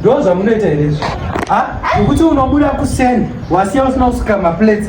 ndozvamunoita here izvo nekuti unobuda kuseni wasiya usina kusuka maplates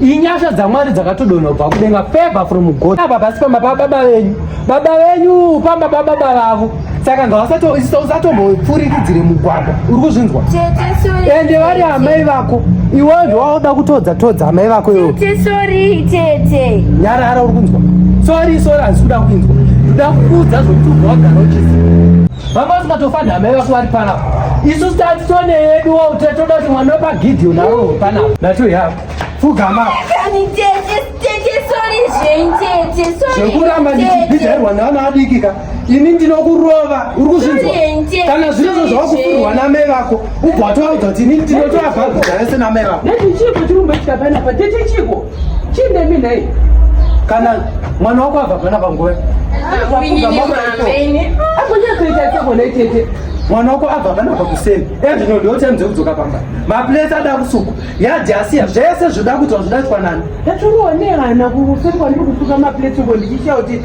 inyasha dzamwari dzakatodonha kubva kudenga favor from god apa pasi pamba pababa venyu baba venyu pamba pababa vavo saka ngausatomboipfurikidzire mugwagwa uri kuzvinzwa ende vari amai vako iwewo ndowauda kutodza todza amai vako iwo nyarara uri kunzwa sori sori hazikuda kuinzwa ndoda kukuudza zvokuti ubva wagara uchiziva vanga usingatofa nhamai vako vari panapa isu tatone yedu wo tatoda kuti mwana wepagidhi unavo panapa nato yako fugama zvekuramba ndichibhidhairwa naana adikika ini ndinokurova uri kuzvinzwa kana zvirozvo zvawakufurwa namai vako ubva watovaudza kuti ini ndinotoavhagudzana senamai vako Chindemi nhai. Kana mwana wako abva pana panguva. Akunya kuita seko nei tete. Mwana wako abva pana pakuseni. Ezvino ndiwo time dzekudzoka pamba. Maplace ada kusuku. Yadhi asiya zvese zvoda kuti wazvidatwa nani. Ndatoonera na kusekwa ndiri kusuka maplace ngo ndichichauti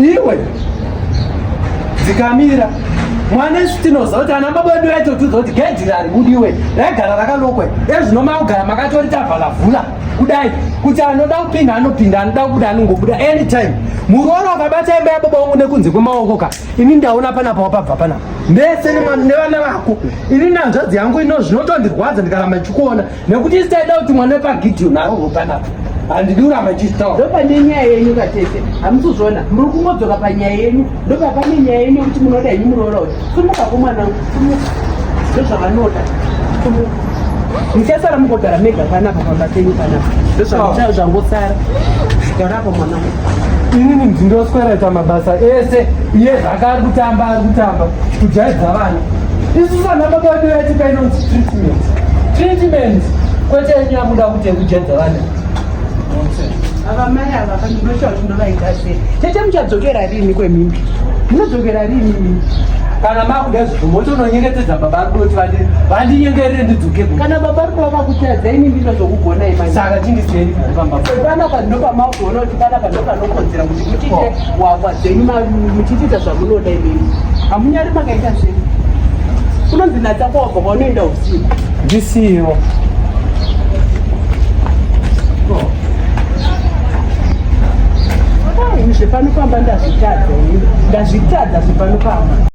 iwe dzikamira mwana isu tinoziva kuti ana baba vedu vaito tiudza kuti gedhi rari budiwe raigara rakalokwe ezvino makugara makatori tavhalavhula kudai kuti anoda kupinda anopinda anoda kubuda anongobuda anytime muroora wakabata imba yababa wangu nekunze kwemaoko ka ini ndaona panapa wapabva panapa mese nevana vako ini nanzvadzi yangu ino zvinotondirwadza ndikaramba ndichikuona nekuti isi taida kuti mwana wepagideoni arohwe panapa handidi kuramba ndichitaura ndopane nyaya yenyu katete hamusuzvona muri kungodzoka panyaya yenyu ndopapane nyaya yenyu yekuti munoda henyu muroora uyu sumuka komwana sumuka ndozvavanoda sumuka muchasara mukogara mega panapa pamba penyu panapa ndozvangosara inini ndindoswereta mabasa ese iye zvaka ari kutamba ari kutamba kujaidza vana isu vana baba vedu yatipa inonzi treatment treatment kwete yenyu yakuda kuti yekujaidza vana avamai ava kandinoshava zvinovaita se tete muchadzokera riini kwemimbi munodzokera riini mimi kana makuda zvibvumo tononyengetedza baba ari kuti vandinyengerere ndidzoke kana baba ari kuva vakutadza ini ndizvo zvokugona imai saka chindiseeri pamba panapa ndopamaukuona kuti panapa ndopanokodzera kuti mutiite hwahwa dzenyu muchitiita zvamunoda imimi hamunyari makaita sei kunonzi natakova bva kwaunoenda usiku ndisiyo zvepanopamba ndazvitadza ndazvitadza zvepanopamba